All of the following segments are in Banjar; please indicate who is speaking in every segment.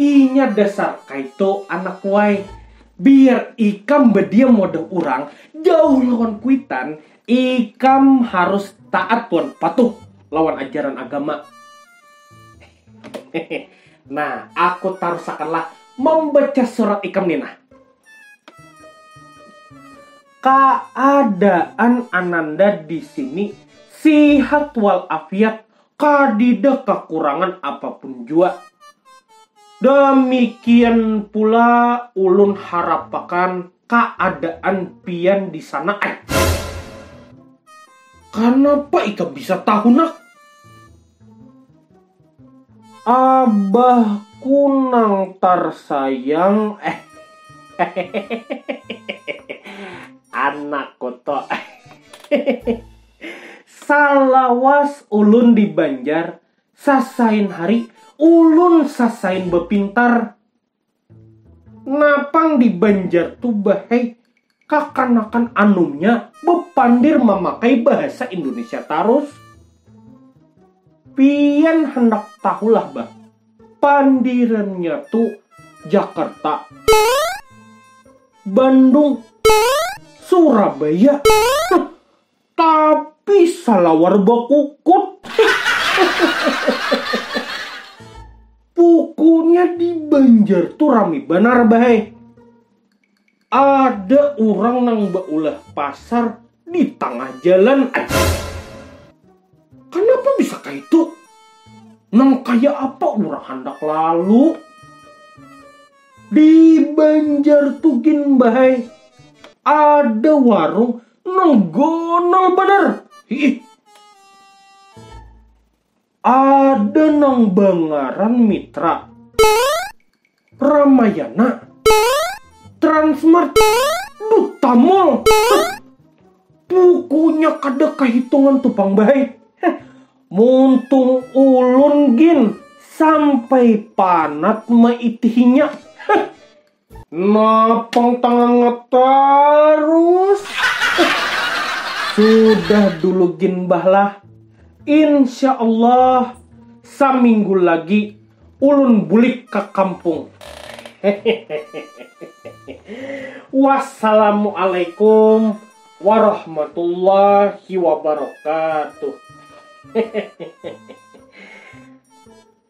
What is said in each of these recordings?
Speaker 1: Inya dasar kaito anak kuai. Biar ikam badiam wadah urang, jauh lawan kuitan, ikam harus taat wan patuh lawan ajaran agama. nah, aku tarusakanlah mambaca surat ikam ni nah. Kaadaan Ananda di sini sihat wal afiat kadida kakurangan apapun jua. Damikian pula ulun harapakan kaadaan pian di sana ai. Kanapa ikam bisa tahu nak? Abahku nang tarsayang hehehe anakku tu hehehe. Salawas ulun di Banjar, sasain hari ulun sasain bapintar. Napang di Banjar tu bahai kakanakan anumnya bapandir mamakai bahasa Indonesia tarus. Pian handak tahulah bah, pandirannya tu Jakarta, Bandung, Surabaya. Tapi salawar bakukut. Pukuknya di Banjar tu rami banar bahai. Ada urang nang baulah pasar di tangah jalan aja. Kanapa bisa kaitu? Nang kaya apa urang handak lalu? Di Banjar tu gin bahai ada warung Nol gonol banar. Hiih. Ada nang bangaran Mitra. Ramayana. Transmart. Duta Mall. Pukunya kada kahitungan tu pang bahai. Muntung ulun gin sampai panat maitihinya. Napang tangangat tarus. Sudah dulu gin bah lah. Insya Allah saminggu lagi ulun bulik ka kampung. Wassalamualaikum warahmatullahi wabarakatuh.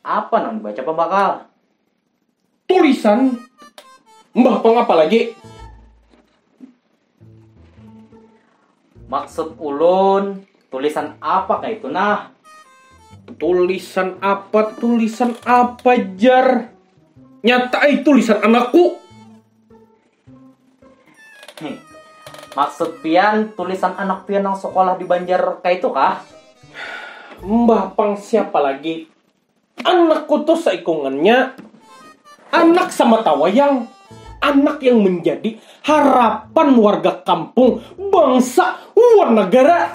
Speaker 2: Apa nang dibaca pambakal? Tulisan
Speaker 1: Mbah Pang apa lagi?
Speaker 2: Maksud ulun, tulisan apa kah itu nah?
Speaker 1: Tulisan apa, tulisan apa jar? Nyata eh tulisan anakku. Nih,
Speaker 2: maksud pian tulisan anak pian yang sekolah di Banjar kayak itu kah?
Speaker 1: Mbah pang siapa lagi? Anakku tuh seikungannya anak sama tawayang. Anak yang menjadi harapan warga kampung, bangsa, wan negara.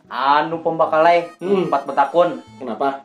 Speaker 2: Anu pembakalai, hmm. empat betakun. Kenapa?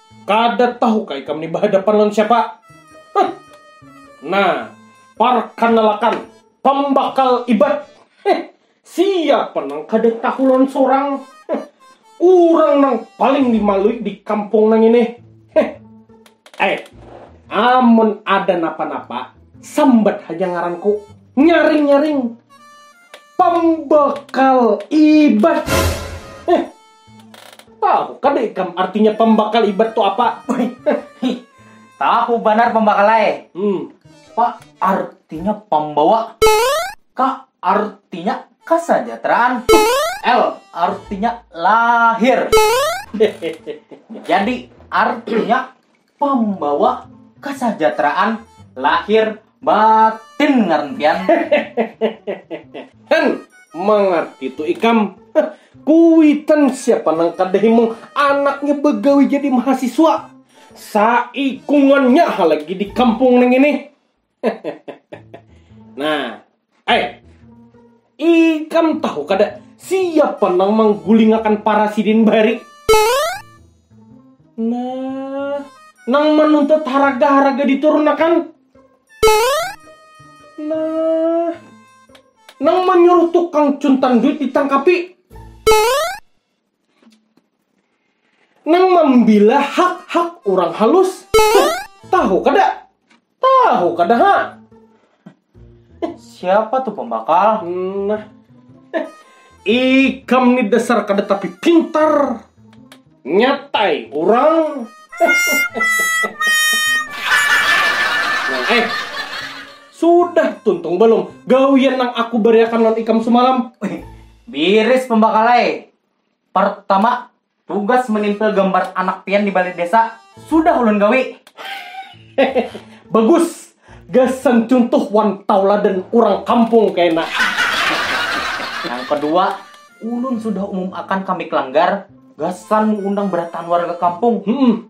Speaker 1: Kada tahu kah ikam ni bahadapan lawan siapa? Huh. Nah, parkanalakan, pambakal ibat. Huh. Siapa nang kada tahu lawan sorang? Huh. Urang nang paling dimalui di kampung nang ini. Huh. Eh, amun ada napa-napa, sambat haja ngaranku. Nyaring-nyaring. Pambakal ibat. Huh. Tahu kada ikam artinya pambakal ibat tu apa?
Speaker 2: Tahu banar pambakal ai. Hmm. Pa artinya pambawa. Ka artinya kesejahteraan. L artinya lahir. Jadi artinya pambawa kesejahteraan lahir batin ngaran pian. Hen,
Speaker 1: mangarti tu ikam. Kuitan siapa nang kada himung anaknya bagawi jadi mahasiswa. Saikungannya ha lagi di kampung nang ini. nah, eh, ikam tahu kada siapa nang manggulingakan para sidin bari? Nah, nang menuntut haraga-haraga diturunakan? Nah, nang menyuruh tukang cuntan duit ditangkapi? Nang mambila hak-hak urang halus, tahu kada? Tahu kada ha?
Speaker 2: Siapa tu pambakal? Nah,
Speaker 1: ikam ni dasar kada tapi pintar, nyatai urang. Nah, eh, sudah tuntung balum gawian nang aku bariakan lawan ikam sumalam? Biris
Speaker 2: pambakal ai. Partama, tugas menimpil gambar anak pian di balai desa sudah ulun gawi. Hehe, bagus.
Speaker 1: Gasan cuntuh wan tauladan urang kampung kena.
Speaker 2: Nang kedua, ulun sudah umum akan ka Mik Langgar gasan muundang barataan warga kampung. Humm.